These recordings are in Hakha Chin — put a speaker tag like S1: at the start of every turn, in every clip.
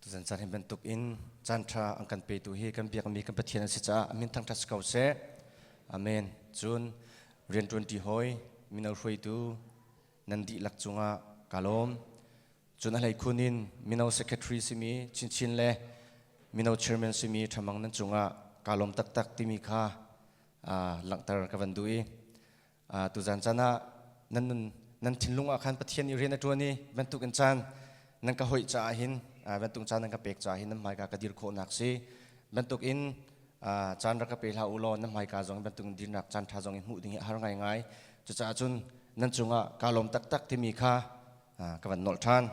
S1: Tuzan caan hi bantuk in caanṭha an kan petu hi kan biakmi kan Pathian an si caah min thangṭhat si ko seh. Amen. Cun rian ṭuanṭi hoi mino hruaitu nan dihlak cungah ka lawm. Cun a hleikhun in mino secretary simi chinchin le mino chairman simi ṭhamang nan cungah ka lawm taktak timi kha langhter ka van duh i tuzan caan ah nan nun nan thinlung ah khan pathian nih rian a ṭuan i bantuk in caan nan ka hoih caah hin bantuk caan nan ka pek caah hin nan hmaika ka dir khawhnak si bantuk in caan rak ka pe hlah u law nan hmaika zong bantuk in dirnak caan ṭha zong in hmuh ding hi a har ngaingai cucaah cun nan cungah kaa lawm taktak timi kha ka van nolh ṭhan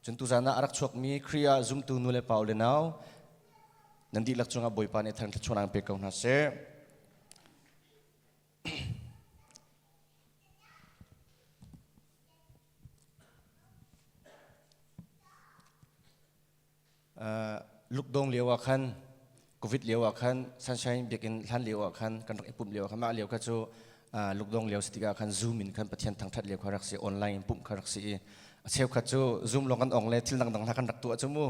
S1: cun tuzan ah a rak chuakmi Khrih ah zumtu nu le pau le nau nan dihlak cungah Bawipa nih thar thluachuan aan pe ko hna seh lukdong lio ah khan covid lio ah khan sunshine biakinn hlan lio ah khan kan rak i pumh lio ah khan mah lio kha cu lukdong lio si tikah khan zoom in khan pathian thangthat lio kha rak si online in pumh kha rak si i a cheukhat cu zoom lawng kan ong le thil dangdang hna kan rak tuah cu mu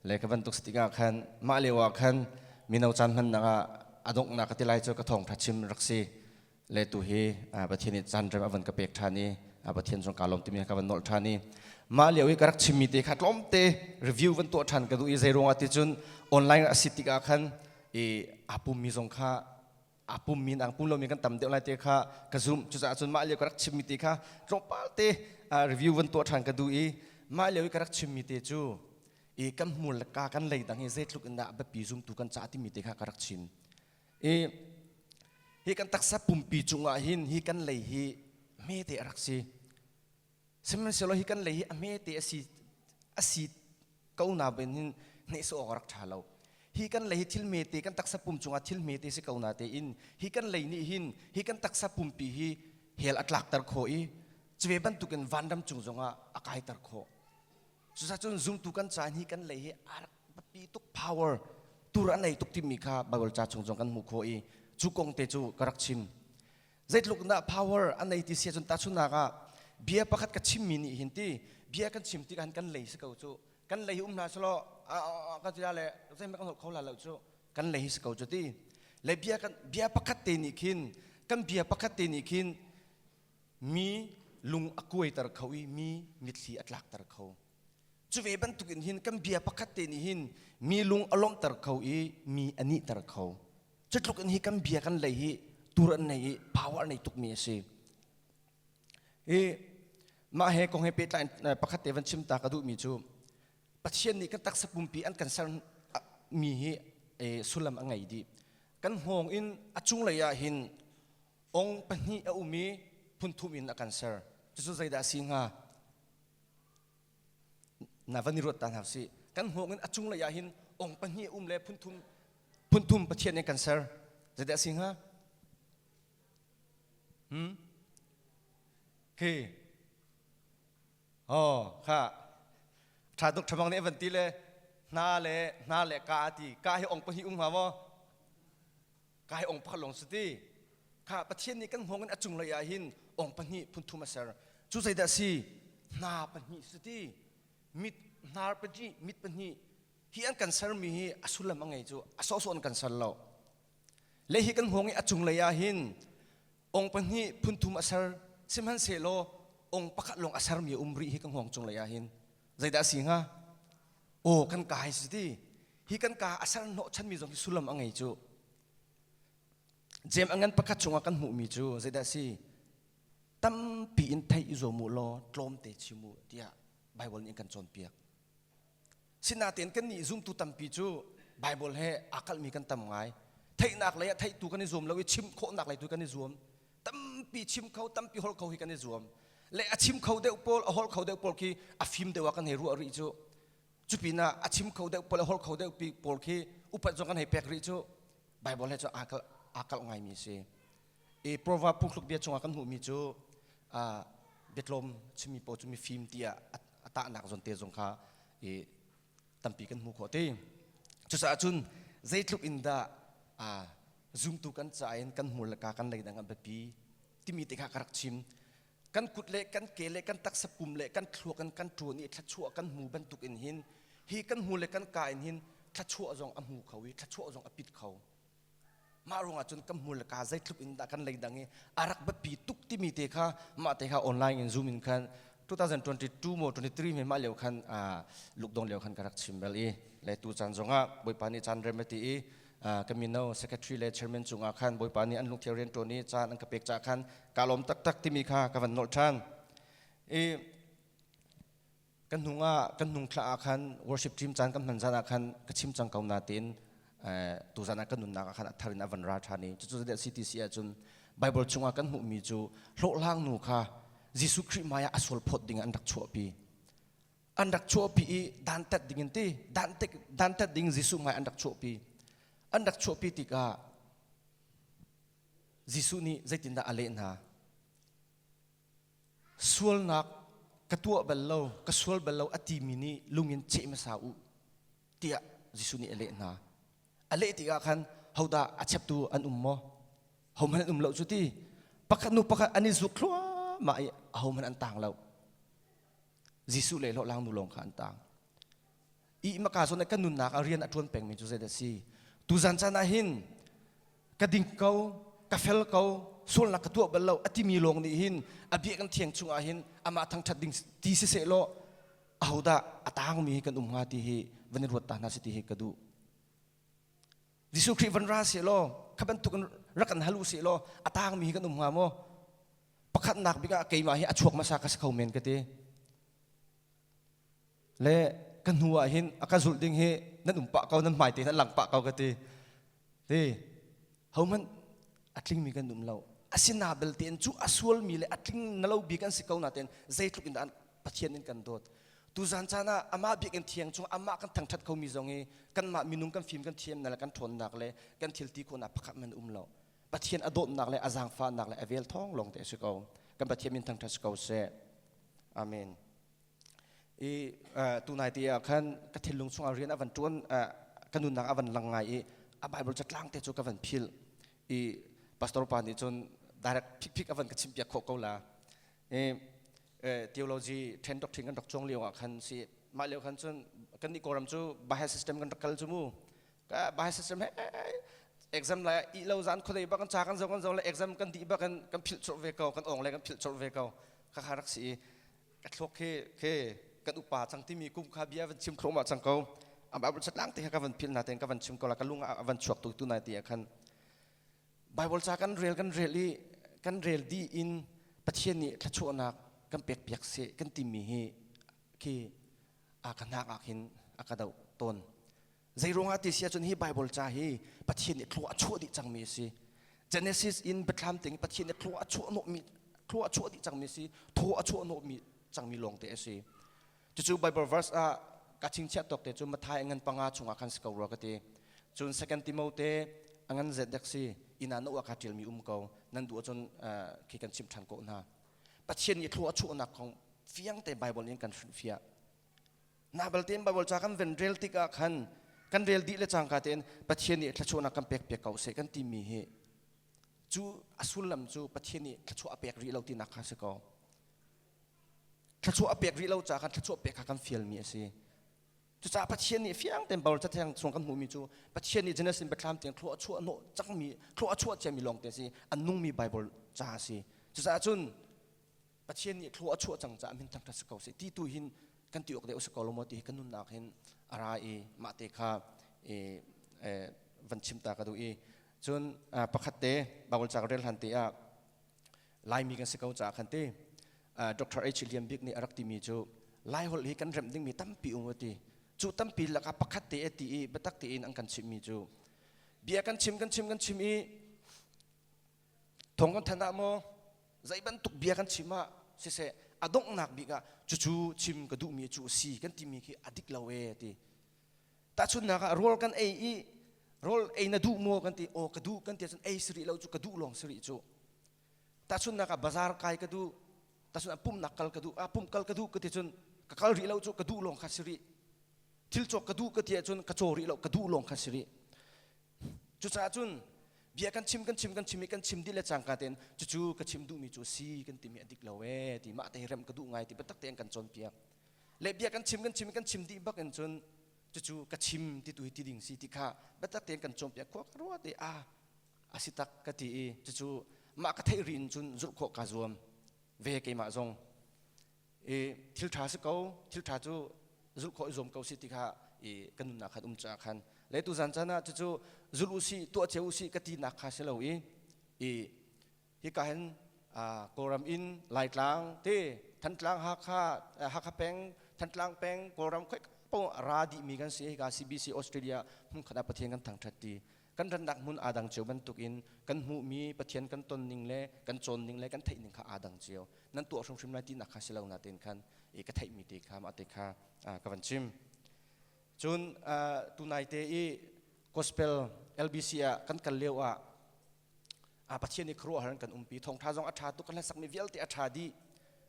S1: le ka bantuk stik ah khan mah lio ah khan mino caan hmannak ah a donghnak ka ti lai cu ka thawng ṭha chim rak si le tu hi pathian i caan rem avan ka pek ṭhan i pathian zong ka lawm timi ka van nolh ṭhan i mah lio i ka rak chimmi te kha tlawmte review van tuah ṭhan ka duh i zeiruangah ti cun online a si tik ah khan i aa pummi zong kha a pum min ang pum lo mi kan tam deuh lai te kha ka zoom cucaah cun mah lio ka rak chimmi te kha tlawmpal te review van tuah ṭhan ka duh i mah lio i ka rak chimmi te cu i kan hmur le ka kan lei dang hi zeitluk in dah a biapi zumtu kan ca timi te kha ka rak chim i hi kan taksa pumpi cungah hin hi kan lei hi hmete a rak si sihmanhsehlaw hi kan lei hi a hmete a si a si ko na ben hin hneh so awk rak tha lo hi kan lei hi thil mete kan taksa pum cungah thil mete si ko na te in hi kan lei nih hin hi kan taksa pumpi hi hel atlakter kho i cuve bantukin vanram cung zongah a kaiter kho cuzacun zumtu kan caan hi kan lei hi a pi tuk power tur a nei tuk timi kha bible ca chung zong kan hmu kho i cu kong te cu ka rak chim zeitluk dah power an nei ti si cun tahchunak ah bia pakhat ka chimmi nih hin ti bia kan chim tikah kan lei si ko cu kan lei um hna selaw kan ti le zeihmanh kan holh kho la lo cu kan lei si ko cu ti le bia kan bia pakhat te nih khin kan bia pakhat te nih khin mi lung a kuaiter kho i mi mitthli a tlakter kho cu ve bantuk in hin kan bia pakhat te nih hin mi lung a lawmhter kho i mi a nihter kho Cutluk in hi kan bia kan lei hi tur an nei i power nei tukmi a si. Hi mah he kong he pehtlai pakhat te van chim ta ka duhmi cu Pathian nih kan taksa pumpi an kan ser mi hi sullam a ngei dih. Kan hngawng in a cunglei ah hin ong pahnih a um i phun thum in a kan ser. Cucu zeidah a si hnga? na van i ruat ta hna sih kan hmuh in a cunglei ah hin ong pahnih um le phunthum phunthum pathian in kan ser zeite a si hnga hmm? okay oh kha tha tuk thamang nih van ti le hna le hna le ka ti ka hi ong pahnih um hnga maw kai ong pakhat lawng cu ti kha pathian nih kan hngawng in a cunglei ah hin ong pahnih phunthum a ser cu zeidah si hna pahnih su ti mit hnar pahnih mit pahnih hi an kan sermi hi a sullam a ngei cu a sawhsawh an kan ser lo le hi kan hngawng i a cunglei ah hin ong pahnih phunthum a ser sihmanhsehlaw ong pakhat lawng a sermi a um rih hi kan hngawng cunglei ah hin Zeidah a si hnga? Aw kan ka hai si ti. Hi kan ka a ser hnawhchanmi zong hi sullam a ngei cu. Jem a ngan pakhat chungah kan hmuhmi cu zeidah a si? Tampi in theih i zuam u law tlawmte chim u tiah Baibal nih kan cawnpiak. Sinatein kannih zumtu tampi cu Baibal he aa kalhmi kan tam ngai. Theihnak lei ah theihtu kan i zuam lo i chimh khawhnak lei tu kan i zuam. tampi chim kho tampi hol kho hi kan i zuam le a chim kho deuh pawl a hol kho deuh pawl khi a fim deuh ah kan hei ruah rih cu cupinah a chim kho deuh pawl a hol kho deuh pawl khi upat zong kan hei pek rih cu bible he cu aa kalh aa kalh ngaimi a si i prova punghluk bia chungah kan hmuhmi cu uh, biatlawm chimi paw cu mi fim tiah a tahnak zon te zong kha i tampi kan hmu khawh te cucaah cun zeitluk in dah zumtu kan ca in kan hmur le ka kan lei dang an biapi timi te kha ka rak chim kan kut le kan ke le kan taksa pum le kan thluak in kan ṭuan i thluachuah kan hmu bantuk in hin hi kan hmu le kan ka in hin thluachuah zong a hmu kho i thluachuah zong a pit kho mah ruangah cun kan hmur le kaa zeitluk in dah kan leidang i a rak batpi tuk timi te kha mah te kha online in zoom in khan 2022 maw 23 me mah leo khan lukdong leo khan ka rak chim bel i le tu caan zongah bawipa nih caan rem ti i ka mino secretary le chairman cungah khan bawipa nih an lungthia rian ṭuan i caan an ka pek ca khan ka lawm taktak timi kha ka van nolh ṭhan i kan hnung ah kan hnung thla ah khan worship team caan kan hman zan ah khan ka chim cang ko na tiin tu zan ah kan nunnak ah khan a thar in a van ra ṭhan i cucu zade CTC ahcun Bible chungah kan hmuhmi cu hlawhlang nu kha Jesuh Khrih hmaiah a sual phawt ding an rak chuahpi an rak chuahpi i dantat ding in ti dantek dantat ding Jesuh hmai an rak chuahpi an rak chuahpi tikah Jesuh nih zeitindah a leh hna sualnak ka tuah bal lo ka sual bal lo a timi nih lungin ceh hmasa u tiah Jesuh nih a leh hna a leh tikah khan hodah a cheptu an um maw hohmanh an um lo cu ti pakhat nu pakhat an i zuk thluahmah i ahohmanh an tang lo Jesuh le hlawhlang nu lawng kha an tang i maka son ka nunnak a rian a tuan pengmi cu zeidah si tuzan chan ah hin ka ding ko ka fel ko sualnak ka tuah bal lo atimi lawng nih hin a bia kan thiang chungah hin amah thangthat ding ti si se law ahodah a tangmi kan um hnga ti hi van i ruat ta hna si ti hi ka duh Jesuh Khrih van ra se law kha bantuk rak an halu se law a tangmi kan um hnga maw pakhatnak bikah keimah hi a chuak masa ka si kho men ka ti le ka hnu ah hin a ka zulh ding hi nan um pah ko nan hmai te nan lang pah ko ka ti ti hohmanh a tlingmi kan um lo asina belte cu a sualmi le a tling ngalo bik an si ko na ten zeitluk in an pathian in kan dawt tuzan caan ah amah biak in thiang chung amah kan thangthat khomi zong hi kanmah minung kan fim kan thiam na le kan ṭhawnnak le kan thilti khona pakhat man um lo pathian a dawtnak le a zaangfahnak le a vel thong long te si ko kan pathian min thangthat si ko seh Amen. I tunai ti ah khan ka thinlung chungah rian a van tuan ka nunnak a van lang ngai i a Bible catlang te cu ka van phil i pastor pa nih cun direct phikphik a van ka chimpiak khawh ko la i theology then doctrine kan rak chuang lio ah khan si mah leo khan cun kan ni kawram cu bahai system kan rak kal cu mu Baha'i system he exam la i lo zan khuadei bak kan cha kan zo kan zo le exam kan di bak kan kan philh churh ve ko kan ong le kan philh churh ve ko kha kha rak si i ka thluak khi khi kan upa chang timi kum kha bia van chim khrom cang ko am abul chatlang te ka van phil na ten ka van chim ko la ka lung a van chuak tu tu nai ti khan bible cha kan rel kan rel i kan rel di in pathian nih thlachuahnak kan pek piak se kan timi hi khi a ka nak ah hin a ka do ton Zeiruangah ti si ahcun hi Baibal ca hi Pathian nih thlua a chuah dih cangmi a si. Genesis in biathlam ting Pathian nih thlua a chuah hnawhmi thlua a chuah dih cangmi a si, thaw a chuah hnawhmi cangmi lawngte a si. Cucu Baibal verse ah ka chingchiah tawk te cu Matthai ngan panga chungah khan si ko rua ka ti. Cun Second Timote a ngan zedek si inn ah na ua kaa ṭialmi um ko, nan duh ahcun khi kan chimh ṭhan ko hna. Pathian nih thlua a chuahnak kong fiangte Baibal in kan hrilhfiah. Na balte in Bible ca kan ven rel tik ah khan kan rel dih le cangka tein Pathian nih thluachuahnak kan pek piak ko seh kan timi hi cu a sullam cu Pathian nih thluachuah a pek rih lo tinak kha si ko thluachuah a pek rih lo caah khan thluachuah pek kha kan fialmi a si cucaah Pathian nih fiang tein Bible cathiang chung kan hmuhmi cu Pathian nih Genesis biathlam tiang thlua a chuah hnawh cangmi thlua a chuah ciami lawng te si an nungmi Bible ca a si cucaah cun Pathian nih thluah a chuah cang caah min thangṭhat si ko sih ti tu hin kan ti awk deuh si ko lo maw ti kan nunnak hin a ra i mah te kha i van chim ta ka duh i cun pakhat te Bible ca ka rel hlan te ah Laimi kan si ko caah khan te Dr. H. Liam Bik nih a rak timi cu Laiholh hi kan remh dingmi tampi um ti cu tampi lakah pakhat te ti i biatak tein an kan chimhmi cu bia kan chim kan chim kan chim i Thong kan than ah maw zei bantuk bia kan chim ah siseh a donghnak bik ah cucu chim ka duhmi cu a si kan timi khi a dik lo e ti tahchunnak ah rawl kan ei i rawl ei na duh maw kan ti aw ka duh kan ti ahcun ei sirih lo cu ka duh lawng sirih cu tahchunnak ah bazar kai ka duh tahchun pumnak kal ka duh a pumh kal ka duh ka ti cun ka kal rih lo cu ka duh lawng kha sirih thil cawk ka duh ka ti ahcun ka caw rih lo ka duh lawng kha sirih Cucaah cun bia kan chim kan chim kan chim i kan chim dih le cangka tein cucu ka chim duhmi cu a si kan timi a dik lo ee ti mah te hi rem ka duh ngai ti biatak tein kan cawnpiak le bia kan chim kan chim i kan chim dih bak in cun cucu ka chim ti tu hi ti ding si ti kha biatak tein kan cawnpiak khua ka rua te a a si tak ka ti i cucu mah ka theih ri in cun zulh khawh ka zuam ve keimah zong i thilṭha si ko thilṭha cu zulh khawh i zuam ko si ti kha i kan nunnak khan um cungah khan le tu zan caan ah cucu zul u sih tuah cio u sih ka tinak kha si lo i i hika hin kawlram in laitlang te thantlang hakha hakha peng thantlang peng kawlram khoi po ra dih mi kan si hika CBC Australia hmun khat ah Pathian kan thangṭhat ti kan rannak hmun aa dang cio bantukin kan hmuhmi Pathian kan tonning le kan cawnning le kan theihning kha aa dang cio. Nan tuah hrimhrim lai tinak kha si lo natein khan i ka theihmi te kha mah te kha ka van chim. Cun tunaite i gospel LBC ah kan kal lio ah Pathian i khuaruahhar in kan umpi thawngṭha zong a ṭha tuk kan hlasak mi vialte a ṭha dih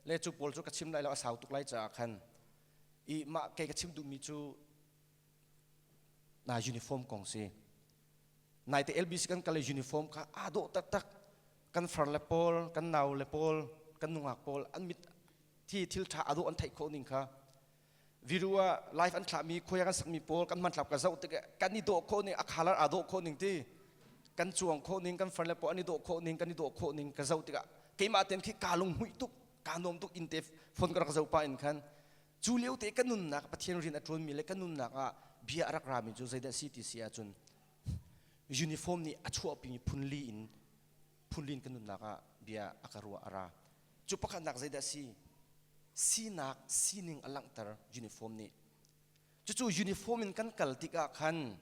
S1: le cu pawl cu ka chim lai lo a sau tuk lai caah khan i mah kei ka chim duhmi cu na uniform kong si naite LBC kan kale uniform kha aa dawh taktak kan far le pawl kan nau le pawl kan nungak pawl an mit thi thil tha ado an theih khawh ning kha viru a life an thlah mi khoya kan sak mi pawl kan man tlap ka zoh tik kan i dawh khawh ning a khalar aa dawh khawh ning ti kan chuang khawh ning kan far le pawl an i dawh khawh ning kan i dawh khawh ning ka zoh tik keimah ten khi ka lung hui tuk ka nuam tuk in te phone ka rak zo pa in khan Cu lio te ka nunnak Pathian rian a ṭuanmi le ka nunnak ah bia a rak rami cu zeidah a si ti si ahcun uniform nih a chuahpimi phunli in phunli in ka nunnak ah bia a ka ruah a ra. Cu pakhatnak zeidah a si? Sinak sining a langhter uniform nih. Cucu uniform in kan kal tikah khan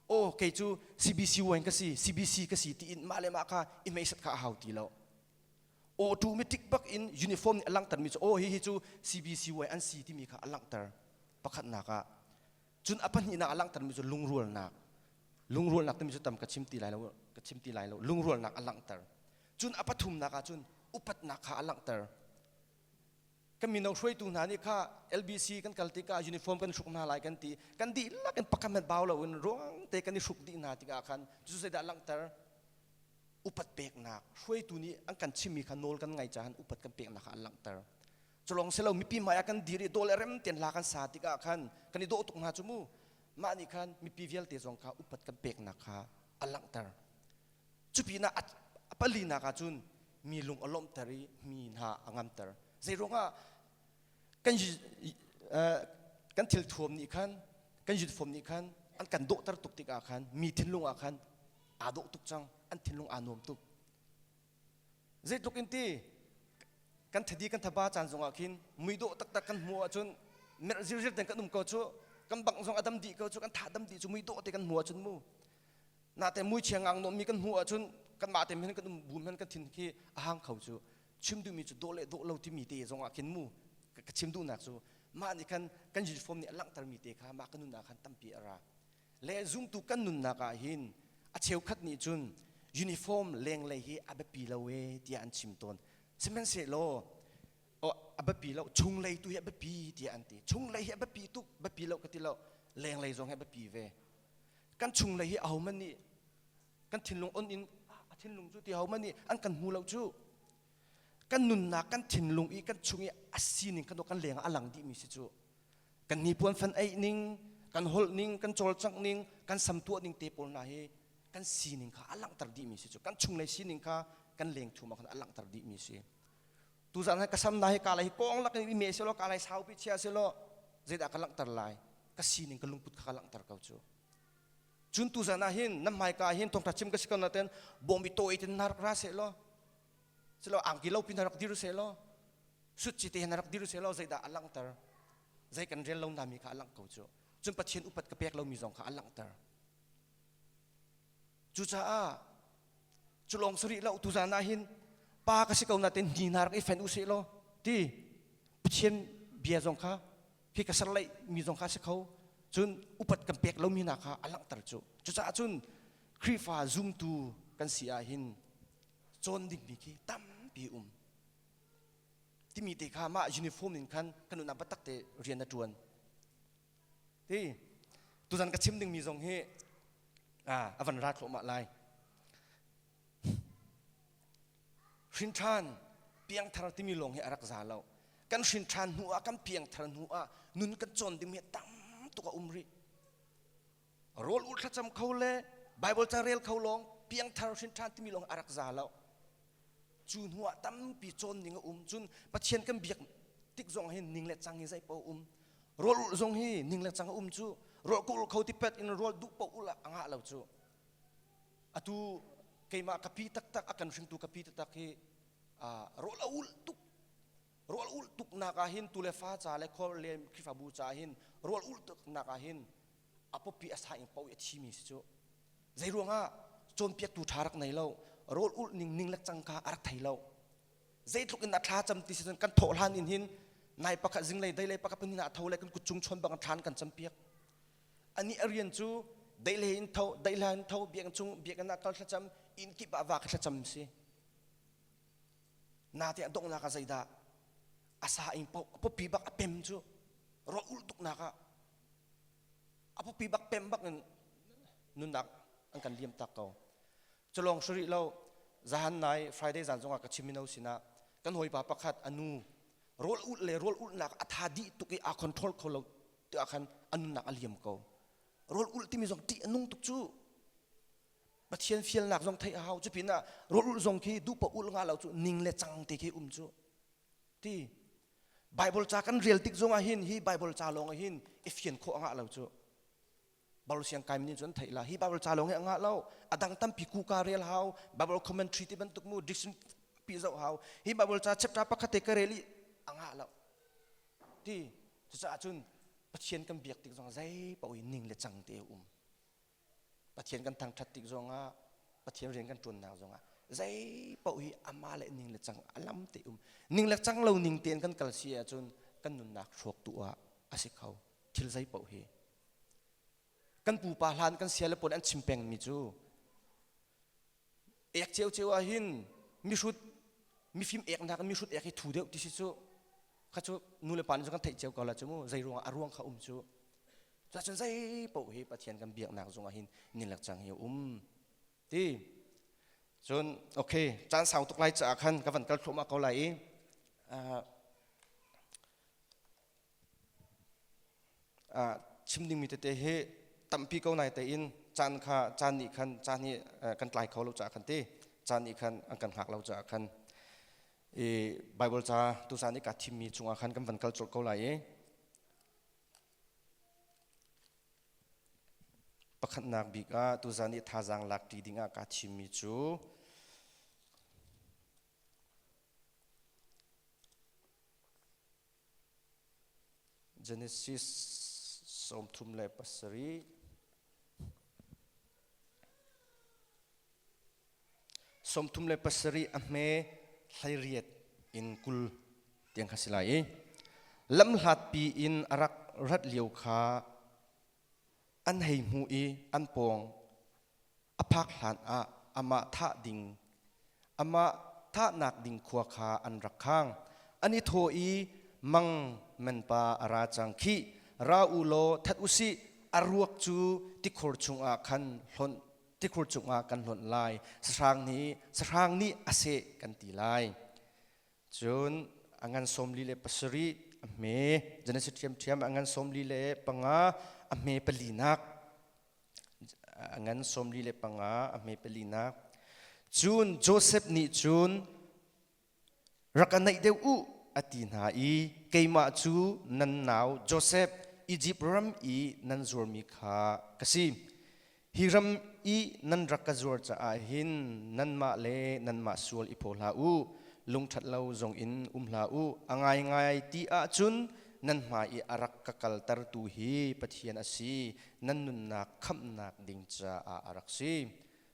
S1: aw kei cu CBCY ka si, CBC ka si tiin mah le mah kha i meisat kha a hau ti lo. automatic bak in uniform nih a langhtermi cu oh hihi cu CBCY an si timi kha a langhter pakhatnak ah cun a pahnihnak a langhtermi cu lungrualnak lungrualnak timi cu tam ka chim ti lai lo ka chim ti lai lo lungrualnak a langhter cun a pathumnak ah cun upatnak kha a langhter kan mino hruaitu hna nih kha LBC kan kal tikah uniform kan hruk hna lai kan ti kan dihlak in pakhat hmanh bau loin ruang te kan i hruk dih hna tikah khan cu zeidah langhter upat peknak hruaitu nih an kan chimmi kha nawl kan ngai caah upat kan peknak kha an langhter culong selo mipi hmai ah kan dir i dawle rem ten la kan sa tikah khan kan i dawh tuk hna cu mu mah nih khan mipi vialte zong kha upat kan peknak kha a langhter Cupinah a palinak ah cun mi lung a lawmhter i mi hna a ngamter. Zeiruangah kan kan thil thuam nih khan kan yutfom nih khan an kan dawhter tuk tikah khan mi thinlung ah khan aa dawh tuk cang an thinlung aa nuam tuk zeitluk in ti kan thadi kan thaba caan zongah khin muidawh taktak kan hmuh ahcun merh zirziar ten kan um ko cu kan bang zong a dam dih ko cu kan tha dam dih cu muidawh te kan hmu ahcun mu Nate muichiang ang nommi kan hmuh ahcun kanmah te men kan um bum men kan thin khi a hang kho cu chim duhmi cu dawh le dawh lo timi te zong ah khin mu ka chim duhnak cu mah nih khan kan uniform nih a langhtermi te kha mah kan nunnak khan tampi a ra le zumtu kan nunnak ah hin a cheukhat nih cun uniform lenglei hi a biapi lo e tiah an chim tawn sihmanhsehlaw a biapi lo chung lei tu hi a biapi tiah an ti chung lei hi a biapi tuk biapi lo ka ti lo lenglei zong hi a biapi ve kan chunglei hi ahohmanh nih kan thinlung on in a thinlung cu ti ahohmanh nih an kan hmu lo cu kan nunnak kan thinlung i kan chung i a sining kan kan leng ah a lang dihmi si cu kan hnipuan fan eih ning kan holh ning kan cawlcangh ning kan samtuah ning te pawl hna hi kan sining kha a langhter dihmi si cu kan chunglei sining kha kan lengthum ah khan a langhter dihmi si tuzan ka sam na hi ka lai kong lak in me selo ka lai saupi chia selo zeidah ka langter lai ka sining ka lungput kha ka langter ko cu cun tuzan ah hin nam mai ka hin tongta chim ka sikon na ten bomi to i tin narak ra se lo selo angki lo pin narak diru se lo sut chi te narak diru se lo zeidah a langter zei kan rel lo nami kha a lang ko cu cun pathian upat ka pek lomi zong kha a langter cucaah Culong sarih lo tu zan ah hin pa ka si ko na ten ni nar i fen u se law ti Pathian bia zong kha hi ka ser lei mi zong kha si kho cun upat kan pek lomi hna kha a langhter cu cucaah cun Khrihfa zumtu kan si ah hin cawn dingmi khi tampi um timi te kha mah uniform in khan kan unah batak te rian a ṭuan ti tuzan ka chim dingmi zong hi a van ra thluahmah lai hrinṭhan piangthar timi lawng hi a rak za lo kan hrinṭhan hnu ah kan piangthar hnu ah nun kan cawn dingmi tam tuk a um rih rawl ur thlacam kho le Bible ca rel kho lawng piangthar hrinthan timi lawng a rak za lo cu hnu ah tampi cawn ning a um cun Pathian kan biak tik zong hin ning le cang hi zei pa um rawl ur zong hi ning le cang a um cu rawl ka ur kho ti pet in rawl duh paoh ul a ngah lo cu atu keimah kapi taktak a kan hringtu kapi taktak hi rawl a ul tuk rawl ul tuk nak ah hin tu le fa ca le khor le khifabu ca hin rawl ul tuk nak ah hin a pawpi a saing paoh i a thimi si cu zei ruangah cawnpiaktu ṭha rak nei lo rawl ulh ning ning le cangka a rak thei lo zeitluk in a thla cam ti si cun kan thawh hlan in hin nai pakhat zinglei dei lei pakhat pahnih ah tho le kan kutzung chon bang thlan kan campiak ani a rian cu dei le in tho dei le in tho biakinn chung biakinn ah kal thlacam inn kip ah va ka thlacam si nate a donghnak ah zeidah a sa ing paoh a pawpi bak a pem cu ro ulh tuknak ah a pupi bak pem bak in nunnak an kan liam tak ko culong suri lo zahan nai friday zan zongah ka chim mino sinah kan hawipa pakhat anu rol ul le rol ulnak a tha dih tuk i a control kho lo ti ah khan a nunnak a liam ko rol ul timi zong tih a nung tuk cu pathian fialnak zong theih a hau cu pin ah rol ul zong khi duhpa ul nga lo cu ning le cang te khi um cu ti Baibal ca kan rel tik zongah hin hi Baibal ca lawng ah hin i fian khawh a ngah lo cu. Baibal siang kai mi nih cun an theih la hi Baibal ca lawng hi a ngah lo a dang tampi kuka rel hau Baibal commentary ti bantuk mu dictionary pi zoh hau hi Baibal ca chapter pakhat te ka rel i a ngah lo ti cucaah cun Pathian kan biak tik zong zei paoh in ning le cang te a um Pathian kan thangṭhat tik zongah, Pathian rian kan ṭuannak zongah zei paoh hi amah le ning le cang a lam te um ning le cang lo ning tein kan kal si ahcun kan nunnak hrawk tu ah a si kho thil zei paoh hi kan pupa hlan kan sia le puan an chim pengmi cu ek ceu ceu ah hin mihrut mifim eknak in mihrut ek hi thu deuh ti si cu kha cu nulepa nih kan theih cio ko la cu mu zei ruangah a ruang kha um cu cuacun zei paoh hi pathian kan biaknak zungah hin nilek cang hi um ti cun okay caan sau tuk lai caah khan ka van kal thluahmah ko lai i uh, uh, chim dingmi tete hi tampi ko nai tein caan kha caan nih khan caan hi kan tlai kho lo caah khan ti caan nih khan an kan hngak lo caah khan i Bible ca tusan i ka thimmi cungah khan kan van kal colh ko lai i pakhatnak bik ah tuzan i thazaang lakṭi dingah kaa thimmi cu Genesis sawmthum le pasarih. Sawmthum le pasarih a hme hleiriat in kul tiang kha si lai i lamhlatpi in a rak rat lio kha An hei hmuh i an pawng a phak hlanah amah thah ding amah thahnak ding khua kha an rak khang. An i thaw i, Mang menpa a ra cang khi, ra u law that u sih, a ruak cu tikhur chungah khan hlonh tikhur cungah kan hlonh lai, sahrang nih sahrang nih a seh kan ti lai. cun angan somli le pasarih a hme genesis ṭhiamṭhiam angan somli le panga a hme palinak angan somli le panga a hme palinak cun joseph nih cun rak ka naih deuh u a ti hna i keimah cu nan nau joseph izipt ram i nan zuarmi kha ka si Hi ram i nan rak ka zuar caah hin nanmah le nanmah sual i phaw hlah u, lungṭhat lo zong in um hlah u. A ngaingai ti ahcun nan hmai i a rak ka kaltertu hi Pathian a si, nan nunnak khamhnak ding caah a rak si.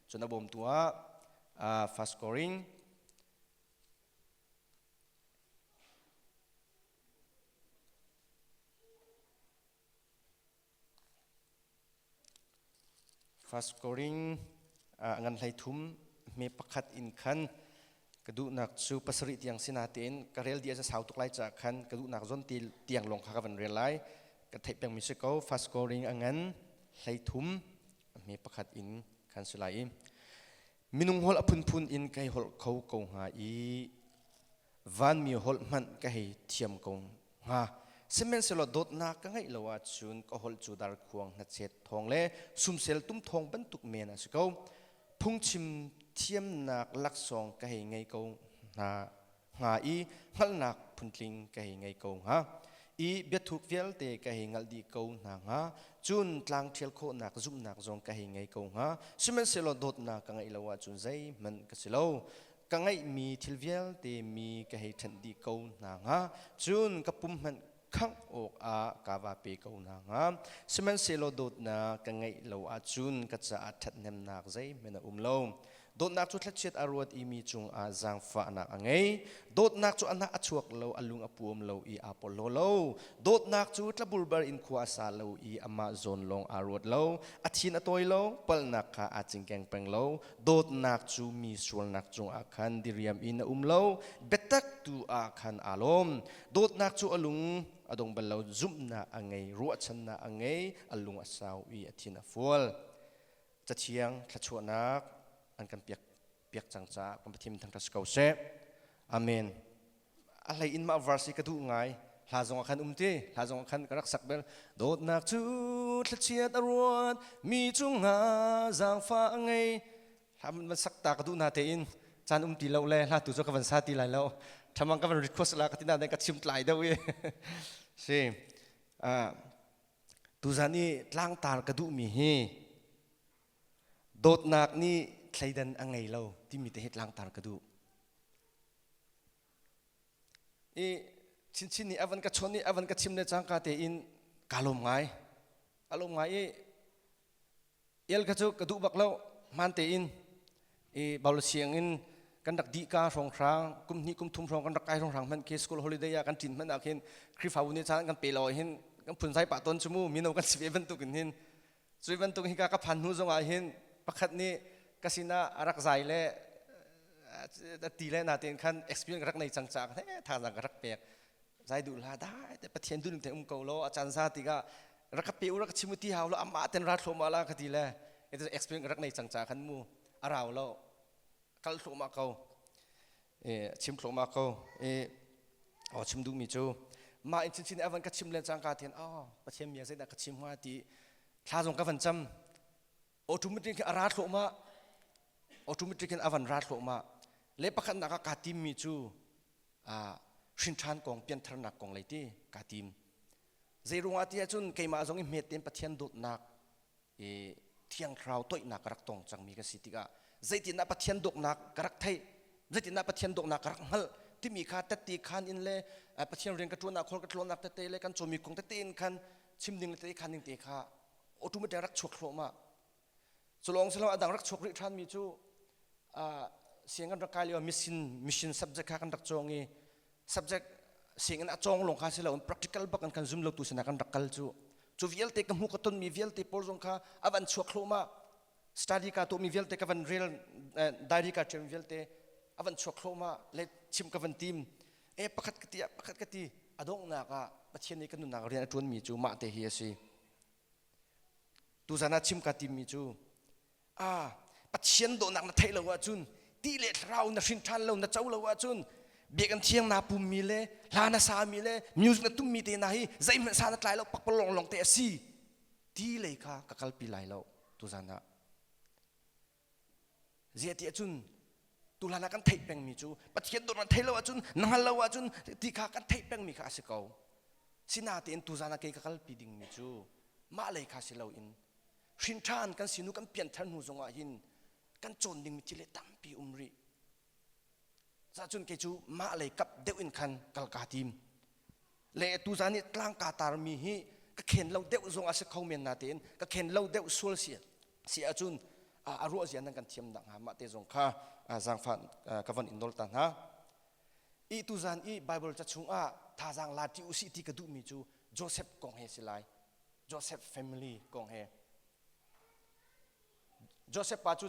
S1: Cun a bawmtu ah First Koring Fast scoring ngan hleithum hme pakhat in khan ka duhnak cu pasarih tiang si natein ka rel dih a sau tuk lai caah khan ka duhnak zawn tiang lawng kha ka van rel lai. Ka theih pengmi si ko fast scoring a ngan hleithum hme pakhat in khan si lai i minung holh a phunphun in ka hei holh kho ko hnga i vanmi holh hmanh ka hei thiam ko hnga sihmanhsehlaw dawtnak ka ngeih lo ahcun ka holh cu dar khuang hnachet thawng le sumsel tum thawng bantuk men a si ko phungchim thiamnak laksawng ka hei ngei ko hna hnga i hngalhnak phun-tling ka hei ngei ko hnga i biathuk vialte ka hei ngalh dih ko hna hnga cun tlang ṭhial khawhnak zumhnak zong ka hei ngei ko hnga sihmanhsehlaw dawtnak ka ngeih lo ahcun zeihmanh ka si lo ka ngeihmi thil vialte mi ka hei ṭhenh dih ko hna hnga cun ka pum hmanh khangh awkah ka va pe ko hna hnga. Sihmanhsehlaw dawtnak ka ngeih lo ahcun ka caah ṭhathnemnak zeihmanh a um lo. Dawtnak cu thlachiat a ruat i mi cungah zaangfahnak a ngei. Dawtnak cu a hnah a chuak lo, a lung a puam lo i aa porhlaw lo. Dawtnak cu tlabulbar in khua a sa lo i amah zawn lawng aa ruat lo. A thin a tawi lo, palhnak kha aa cingkeng peng lo. Dawtnak cu mi sualnak cungah khan diriam in a um lo, biatak tu ah khan aa lawm. dawtnak cu a lung a dong bal lo zumhnak a ngei ruahchannak a ngei a lung a sau i a thin a fual cathiang thluachuahnak an kan piak piak cang caah kan pathian thang si ko seh amen a hlei in mah verse ka duh ngai hla zong ah khan um ti hla zong ah khan ka rak sak bel dawtnak cu thlachiat a ruat mi cungah zaangfa a ngei Hla van sak ta ka duh na tein caan um ti lo le hla tu cu ka van sa ti lai lo thamang ka van request la ka tina ka chim tlai deuh i si tuzan i tlangtar ka duh mi hi dawtnak ni thleidan a ngei lo timi te hi tlangtar ka duh i chinchin ni avan ka chon i avan ka chim ne cangka te in ka lom ngai alom ngai i El kha cu ka duh bak lo hmaan tein i baul siang in kan rak dih ka hrawng hrang kum hnih kum thum hrawng kan rak kai hrawng hrang hmanh khi school holiday ah kan tlin hmanh ah khin khrifabu ne chan kan pe law hin kan phun sai pa ton chumu mino kan si ve bantuk in hin cui bantuk hi ka ka phan hnu zongah hin pakhat nih ka sinah a rak zai le ti le na tein khan experience rak nei cang cak ne thazang ka rak pek zai du la dai te pathian du ning te um ko lo a chan sa tiga rak ka pe u rak ka chim u ti hau lo amah ten ra thloma la ka ti le itu experience rak nei cang ca kan mu arau lo kal thloma ko e chim thloma ko e o chim du mi chu ma in chin chin evan ka chim len cang ka thiên o pathian mia sai da ka chim hoa ti thla zong ka van cham automatic a ra thloma automatic in avan ra thloma le pakhat nak ka tim mi chu a shin than kong pian tharnak kong lei ti ka tim Zeiruangah tiah cun keimah zong i hmet tein Pathian dawtnak i thiang thlarau toihnak ka rak tong cangmi ka si tikah zeitindah Pathian dawtnak ka rak theih zeitindah Pathian dawtnak ka rak hngalh timi kha tette khan in le Pathian rian ka ṭuannak khol ka tlawnnak tete le kan cawmi kong tete in khan chim ding le tete khan ding te kha automatic rak chuak thluahmah Culawng silo adang rak chuak rih ṭhan mi cu siang kan rak kai lio mission mission subject kha kan rak cawng i subject sianginn a cawng lawng kha si loin practical bak in kan zum lo tu sinah kan rak kal cu cu vialte ka hmu ka ton mi vialte pawl zong kha a van chuak thluahmah study ka tuah mi vialte ka van rel diary ka ṭem vialte a van chuak thluahmah le chim ka van tim e pakhat ka ti pakhat ka ti a donghnak ah Pathian nih ka nunnak rian a ṭuan mi cu mah te hi a si Tuzan ah chim ka timmi cu ah Pathian dawhnak na theih lo ahcun ti le thlarau na hrin ṭhan lo na co lo ahcun biakinn thiang naa pummi le hla na sami le music na tummi te hna hi zeihmanh sa na tlai lo pakpalawng lawng te a si ti lei kha ka kalpi lai lo tuzan ah Ziahti ahcun tuhlan ah kan theih pengmi cu Pathian dawt an theih lo ahcun na hngal lo ahcun ti kha kan theih pengmi kha a si ko. Sinatein tuzan ah kei ka kalpi dingmi cu mah lei kha si loin hrinṭhan kan sinu kan pianthar hnu zongah hin kan cawn dingmi thil hi tampi um rih. Cahcun kei cu mah lei kap deuh in khan kal kaa tim. Le tu za nih tlang kaa tarmi hi ka khen lo deuh zong a si kho men na tein ka khen lo deuh sual si si ahcun a ruah zia nan kan thiam nak hnga mah te zong kha zaangfah ka van in nawl ta hna. I tu zan i Bible ca chungah thazaang la ti u si ti ka duhmi cu Joseph kong he si lai. Joseph family kong he. Josef pa cu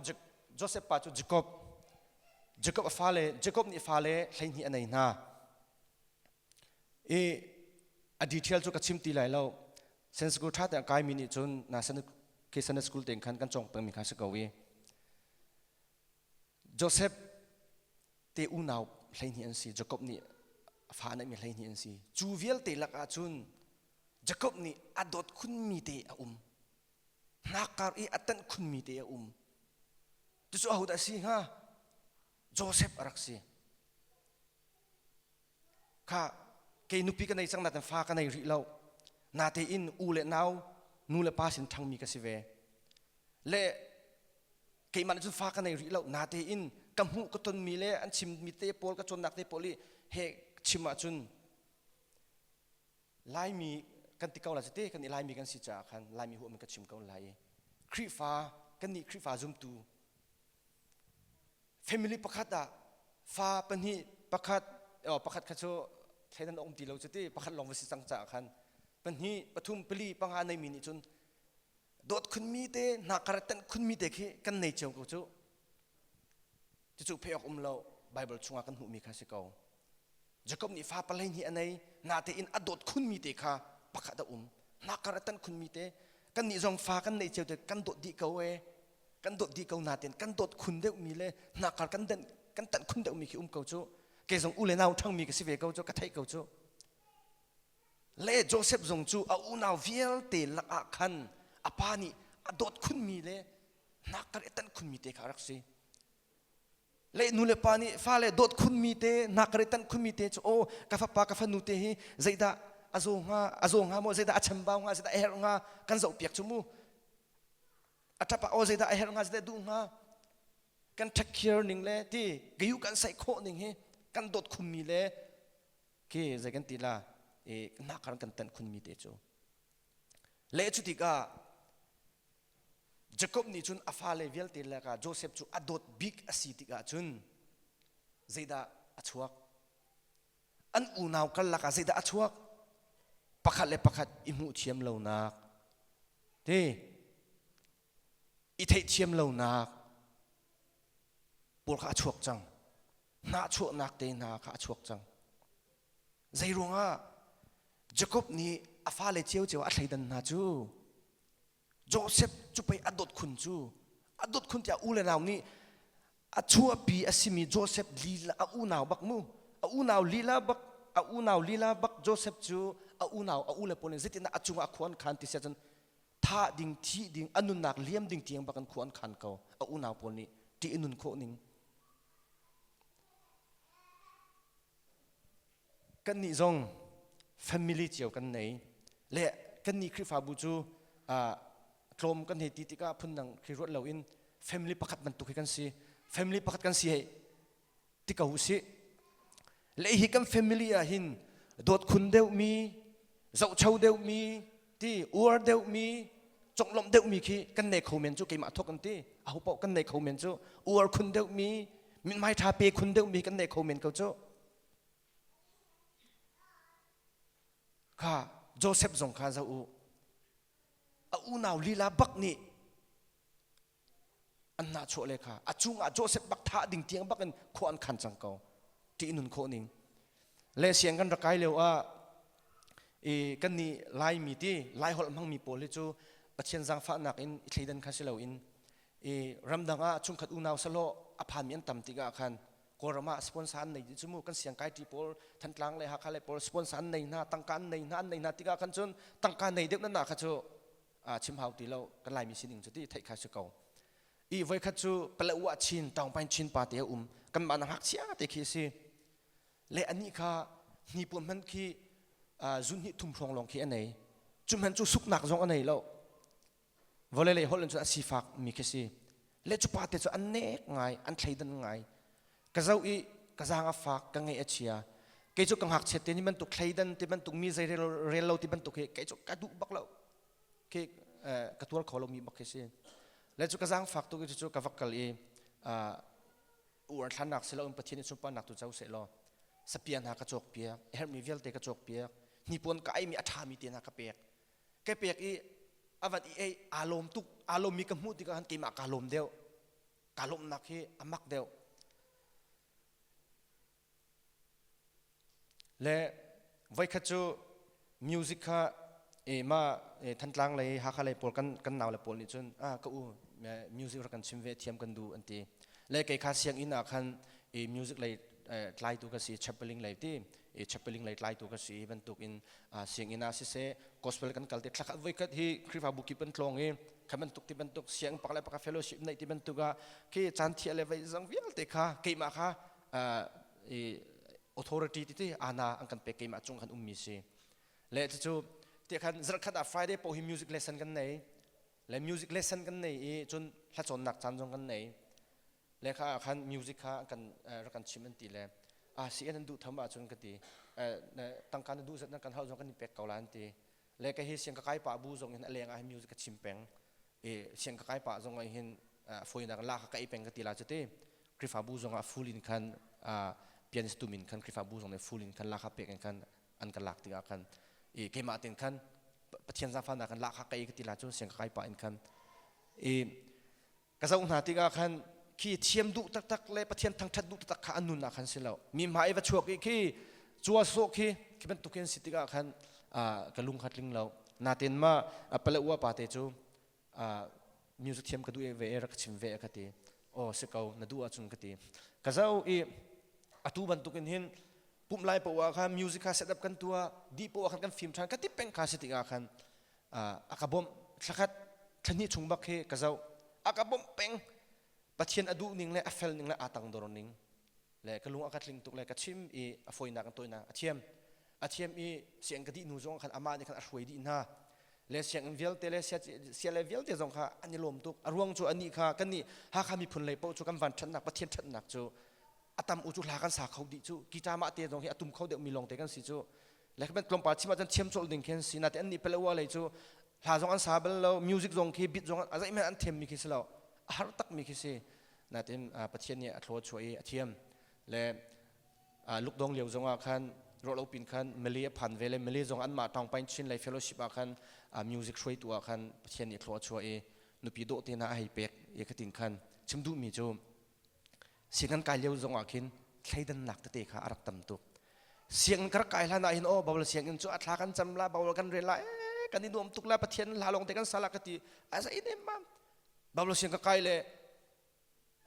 S1: Josef pa cu Jakob Jakob a fale Jakob nih fale hleihnih a nei hna i a detail cu ka chim ti lai lo sen school ṭha tein kaimi nih cun na Sunday school tein khan kan cawng pengmi kha si ko i Josef te unau hleihnih an si Jakob nih fa a neihmi hleihnih an si cu vialte lakah cun Jakob nih a dawt khunmi te a um hnakar i a tanh khunmi te a um tucu ahodah a si hnga joseph a rak si kha kei nupi ka nei cang naten fa ka nei rih lo natein u le nau nu le pa sin ṭhangmi ka si ve le keimah nih cun fa ka nei rih lo natein ka hmuh ka tonmi le an chimmi te pawl ka cawnnak te pawl i he chim ahcun Laimi kan ti ko la cite kan i Laimi kan si caah khan Laimi huam in ka chim ko lai i Khrihfa kan nih Khrihfa zumtu family pakhat ah fa pahnih pakhat pakhat kha cu thleidan a um ti lo cuti pakhat lawng va si cang caah khan pahnih pathum pali panga neimi nih cun dawt khunmi te hnakar tanh khunmi te khi kan nei cio ko cu cucu phei awk um lo Bible chungah kan hmuhmi kha si ko Jakob nih fa palei ni a nei natein a dawt khunmi te kha pakhat a um hnakar a tan khunmi te kannih zong fa kan nei cio te kan dawt dih ko e kan dawt dih ko natein kan dawt khun deuhmi le hnakar kan dan kan tanh khun deuhmi khi um ko cu kei zong u le nau ṭhangmi ka si ve ko cu ka theih ko cu le Joseph zong cu a unau vialte lakah khan a pa nih a dawt khunmi le hnakar i tanh khunmi te kha a rak si le nu le pa nih fale dawt khunmi te nakare tanh khunmi te cu o ka fapa ka fanu te hi zeidah a zo hnga a zo hnga mo zeidah a chambau hnga zeidah a herh hnga kan zoh piak cu mu a tapa o zeidah a herh hnga zeidah duh hnga kan ṭhakkhiar ning le ti gayu kan saih khawh ning hi kan dawt khummi le ke zei kan ti la e nakar kan tanh khunmi te cu le cu tikah Jacob nih cun a fale vialte lakah Josef cu a dawt bik a si tikah cun zeidah a chuak? An unau karlak ah zeidah a chuak? Pakhat le pakhat i hmuh thiam lonak te i theihthiam lonak pawl kha a chuak cang hnahchuahnak te hna kha a chuak cang zei ruangah jacob nih a fale ciocio a thleidan hna cu Joseph cu pei a dot khun cu a dot khun tiah u le nau nih a chuahpi a simi Joseph lila a unau bak mu a unau lila bak a unau lila bak Joseph cu a unau a u le pawl in zeitindah a cungah khua an khan ti siah cun thah ding thi ding a nunnak liam ding tiang bak in khua an khan ko a unau pawl nih ṭih in nun khawh ning kannih zong family cio kan nei le kannih Khrihfabu cu tlawm kan hei ti tikah phundang khi ruat loin family pakhat bantuk hi kan si family pakhat kan si hei ti ko usih le hi kan family ah hin dawt khun deuhmi zohcho deuhmi ti uar deuhmi conglawmh deuhmi khi kan nei kho men cu keimah thok an ti aho paoh kan nei kho men cu uar khun deuhmi minmai tha pe khun deuhmi kan nei kho men ko cu Kha Josef zong kha zoh u. A unau lila bak nih an nahchuah le kha a cung ah Josef bak thah ding tiang bak in khua an khan cang ko ti nun khawh ning le siang kan rakai leo ah i kan ni laimi ti lai holh hmangmi pawl hi cu pathian zangfahnak in i thleidan kha si lo in i ramdang ah chungkhat unau salo a phanmi an tam tikah khan Kawlram ah sponsor an nei cu mu kan siangkai ṭi pawl Thantlang le Hakha le pawl sponsor an nei hna tangka an nei hna an nei hna tikah khan cun tangka nei deuh nan kha cu chim hau ti lo kan Laimi sining cu ti theih kha si ko i voikhat cu palawa chin tawngpain chin pa te um kan mah na hak cia te khi si le ani kha hnipuam man khi zun hnih thum hrawng long khi anei cu man cu suknak zong anei lo vawlei lei holh in cun a sifak mi khi si le cu pa te cu an nek ngai an thleidan ngai ka zo i ka zang a fak ka nge a chia kei cu ka ngakchiat te ni bantuk thleidan ti bantuk mi zei rel lo ti bantuk hi kei cu ka duh bak lo khi ka tual kho lo mi bak khi si le cu ka zang fak tu cu ka vak kal i uar thlannak si lo in pathian in sunparnak tu co se law sapia hna ka cawk piak hermi vialte ka cawk piak hnipuan ka ai mi a ṭha mi te hna ka pek ka pek i a vat i ei aa lawm tuk aa lawmmi ka hmuh tikah khan keimah kaa lawm deuh kaa lawmnak hi a mak deuh le voikhat cu music kha e ma e thantlang lei hakha lei pawl kan kan nau le pawl nih cun a ka u music rak kan chim ve thiam kan du an ti le kei kha sianginn ah khan e music lei tlaitu ka si chappaling lei ti i chappaling lei tlaitu ka si bantuk in sianginn ah siseh gospel kan kal te thlak voi kat hi khrifabu kip an tlong i kha bantuk ti bantuk siang pak le pak fellowship nei ti bantuk ah khi caan thia le vai zang vialte kha keimah kha i authority ti ti ana an kan pek keimah chung kan ummi si le cucu ti khan zarkhat ah friday po hi music lesson kan nei le music lesson kan nei i cun hlacawnnak caan zong kan nei lehkha ah khan music kha kan rak kan chim an ti le ah si an duh tham ahcun ka ti tangka na duh zat nan kan hal zong kan i pek ko la an ti le ka hi siang ka kai pa bu zong in a leng ah music ka chim peng i siang ka kai pa zong ah hin foinak la ka kai peng ka ti la cuti krifabu zong ah full in khan pianist tum in khan krifabu zong nih full in khan lakha pek in khan an kan lak tikah khan i keimah tin khan pathian zaangfahnak kan lakha kai ka ti la cun siang ka kai pa in khan i ka zoh hna tikah khan khi thiam duh taktak le pathian thangṭhat duh taktak kha an nun ah khan si lo mi hma i va chuak i khi cual sawh khi khi bantuk hin si tikah khan ka lung kha tling lo natin ma pale ua pa te cu music thiam ka duh ve e rak chim ve ka ti aw si ko na duh ahcun ka ti ka zo i atu bantukin hin pumh lai poah khan music kha setup kan tua di poah khan kan film ṭhan ka ti peng kha si tikah khan a ka bawmh thlakhat thlahnih chung bak hi ka zoh a ka bawmh peng pathian a duh ning le a fel ning le aa tangdor ning le ka lung a ka tling tuk le ka chim i a foinak in tawinak a thiam a thiam i siang ka dih nu zong khan amah nih khan a hruai dih hna le sianginn vialte le sia le vialte zong kha an i lawm tuk a ruang cu anih kha kan nih hakha miphun lei paoh cu kan van ṭhatnak pathian ṭhatnak cu a tam u cu hla kan sa kho dih cu ki ṭamah te zong hi a tum kho deuh mi lawng te kan si cu le khaben tlawmpal chim ahcun thiam cawlh ding khi an si nate an nih pele ua lei cu hla zong an sa bal lo music zong khi beat zong a zeihmanh an thiam mi khi si lo a har tak mi khi si natin pathian nih a thlaw chuah i a thiam le lukdong lio zong ah khan rawlo pin khan mali a phan ve le mali zong an mah tawng pain chin lai fellowship ah khan music hruai tu ah khan pathian nih thlaw chuah i nupi dawh te na a hei pek i ka tin khan chim duh mi cu Siangan kai lio zong ah khin thleidannak tete kha a rak tam tuk. Sianginn ka rak kai hlan ah hin aw Baul sianginn cu a thla kan cam la Baul kan rel la eh kan i nuam tuk la Pathian hla lawng te kan sal ka ti a sa inem mam Baul sianginn ka kai le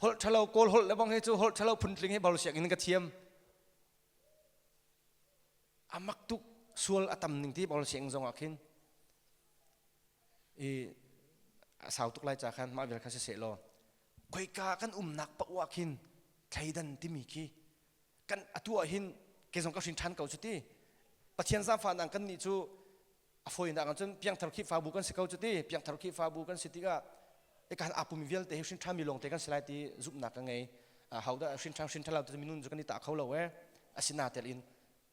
S1: holh thalo kawl holh le bang he cu holh thalo phun tling he Baul sianginn ka thiam amak tuk sual atam ning ti Baul sianginn zong ah khin i a sau tuk lai ca khan mah vial kha si se law khoika kan umnak paoh ah khin thleidan timi khi kan atu ah hin ke zong ka hrin ṭhan ko cu ti pathian zaangfahnak kan nih cu a foinak ahcun piangthar khihfabu kan si ko cu ti piangthar khihfabu kan si tikah ikan apumi vialte hi hrin ṭhami lawngte kan si lai ti zumhnak ka ngei hodah hrin ṭhan hrin ṭhalo tu minun cu kan i tah kho lo e asinatel in